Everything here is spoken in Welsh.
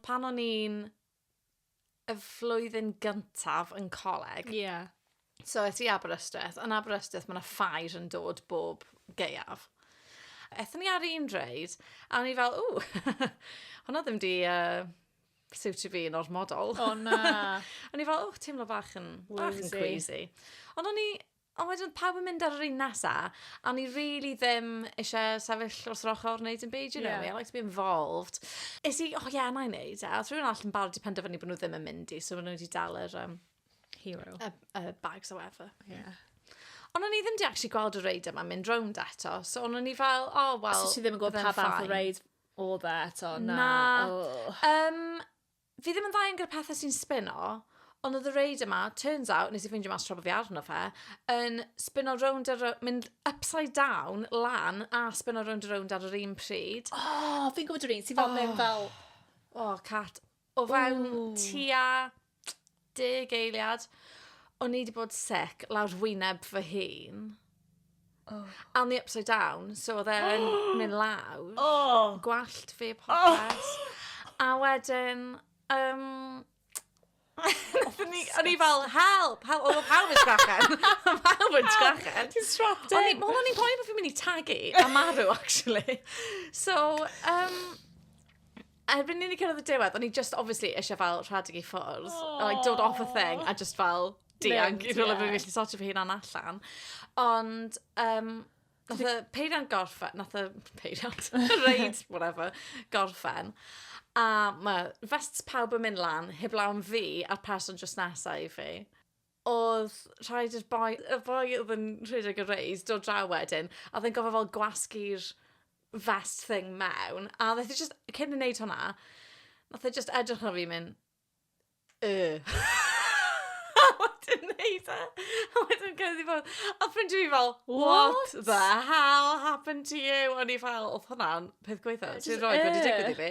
pan o'n i'n y flwyddyn gyntaf yn coleg... Ie. Yeah. So, es i Aberystwyth. Yn Aberystwyth, mae yna ffair yn dod bob gaeaf. Ethon ni ar un reid, a o'n i fel, ww, hwnna ddim di uh, siwtio fi yn ormodol. O na. o'n i fel, ww, teimlo bach yn, bach yn queasy. Ond o'n i Ond wedyn oedd pawb yn mynd ar yr un nesa, a o'n i rili ddim eisiau sefyll wrth yr ochr wneud dim byd, you know me, I like to be involved. Es i, o ie, na i wneud e, oedd rhywun arall yn barod wedi penderfynu bod nhw ddim yn mynd i, so o'n nhw wedi dal yr yym... Hero. ...y y bags or whatever. Ie. Ond o'n i ddim 'di actually gweld y reidiau 'ma'n mynd rownd eto, so o'n i fel, o wel... So ti ddim yn gwybod pa fath o reid oedd e eto, na? Na. Ww. Yym. Fi ddim yn dda iawn gyda pethe sy'n sbino, ond oedd y reid yma, turns out, nes i ffeindio mas tra bo fi arno fe, yn sbino rownd a rownd, mynd upside down, lan, a sbino rownd a rownd ar yr un pryd. O, oh, fi'n gwybod yr un sy'n fel mynd fel... O, cat. O fewn tua Deg eiliad. O'n i 'di bod sick lawr wyneb fy hun. O! A o'n i upside down, so oedd e'n mynd lawr. O! Gwallt fi a popeth. O! A wedyn, yym, o'n i fel, help! Help! Oedd pawb yn sgrechen. Oedd pawb yn sgrechen. Help! Ti'n strapped in. O'n i, wel, o'n i'n poeni bo' fi'n mynd i tagu a marw, actually. So, yym... Erbyn i ni cyrraedd y diwedd, o'n i just obviously eisiau fel rhedeg i ffwrdd. Oh. Like, dod off a thing a just fel dianc i rhywle yeah. fi'n gallu sortio fy hunan allan. Ond, um, nath y peiriant gorffen, nath y peiriant, reid, whatever, gorffen. A mae vests pawb yn mynd lan, heblaw am fi a'r person just nesau i fi. Oedd rhaid i'r boi, y boi oedd yn rhedeg y reis, dod draw wedyn, a oedd e'n gofod fel gwasgu'r vest thing mewn, a wnaeth e jyst, cyn i wneud hwnna, wnaeth e jyst edrych ar fi a mynd, Yy. a wedyn wneud e, a wedyn cerdded i ffwrdd. A oedd ffrindiau fi fel, What the hell happened to you? O'n i fel, oedd hwnna'n peth gwaetha sy 'rioed wedi digwydd i fi.